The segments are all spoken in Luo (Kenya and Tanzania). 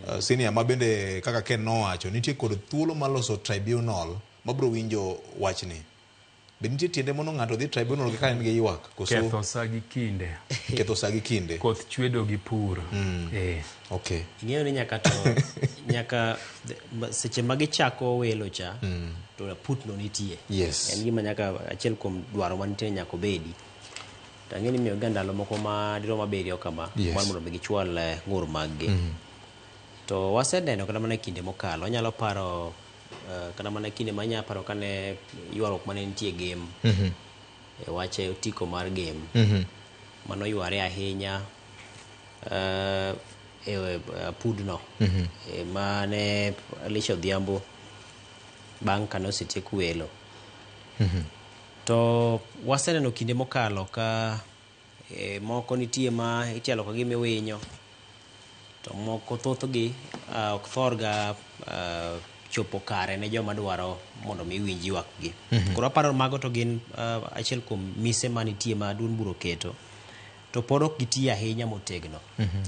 Uh, senior ma bende kaka Ken nowacho nitie kod thuolo mar loso tribunal mabiro winjo wachni. Be nitie tiende mondo ng'ato odhi tribunal ka en gi ywak koso Ketho sa gi kinde. ketho sa gi kinde? Koth chwedo gi pur. Eh. Okay. ing'eyo ni nyaka to nyaka the- ma- seche ma gichako welo cha to putno nitie Yes. en gima nyaka achiel kuom dwaro mantie nyaka obedi To ang'e ni imiyoga ndalo moko ma dirom abiriyo kama Yes. mar mondo mi gichwal eh, ng'ur maggi. Mm. To waseneno kata mana e kinde mokalo, anyalo paro eh, kata mana kinde ma anyalo paro kane ywaruok mane nitie game Mhm. e wach e otiko mar game Mhm. mano yware ahinya eh, e e apudno Mhm. Eh, mane Alicia Odhiambo bang' kane osetiek welo Mhm. To waseneno kinde mokalo ka moko nitie ma ichalo ka gima iwinyo, to moko thothgi ok thorga chopo kare ne joma dwaro mondo mi winj ywakgi. Koro aparo ni mago to gin achiel kuom mise manitie ma duond bura oketo, to pod ok gitiyo ahinya motegno.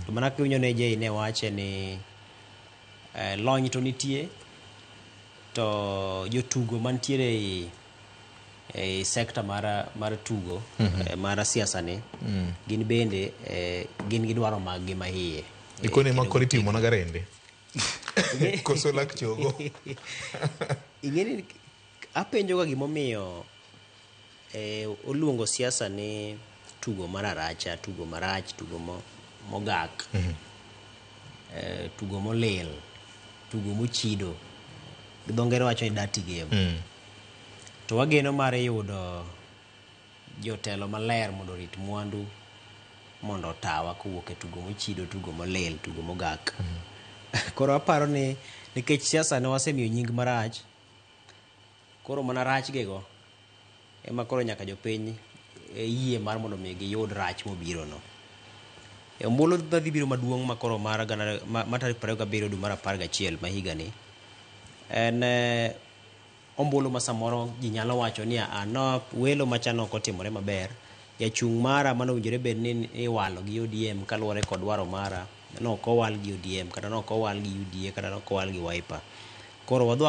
To mana kaka iwinjo ni AJ ne wache ni lony to nitie, to jotugo mantiere ei. ei sekta mar, mar tugo mm -hmm. eh, mar siasa ni mm. gin bende eh, gin gi dwaro maggi ma iye ikoni eh, makoni timo na garende koso lak chogo ing'eni apenjoga gimomiyo eh, oluongo siasa ni tugo mar aracha tugo marach tugo mogak mm -hmm. eh, tugo molil tugo mochido gi dho ngere wacho ni dirty game mm. To wageno mar yudo jotelo maler mondo orit mwandu mondo otawa kowuok e tugo mochido, tugo molil, tugo mogak. Koro aparo ni nikech siasa ne wasemiyo nying marach, koro mana rach gi go ema koro nyaka jopiny e, yie mar mondo mi giyud rach mobiro no. E ombulu madhi biro maduong' ma koro mar gana, ma, ma tarik 27 dwe mar 11 ma higani en eh, ombulu ma samoro ji nyalo wacho ni a no welo macha ne ok otimore maber, jachung' mara mane owinjore bed ni iwalo gi ODM kaluwore kod dwaro mara, ne ok owal gi ODM kata ne ok owal gi UDA kata ne ok owal gi Wiper. Koro wadwa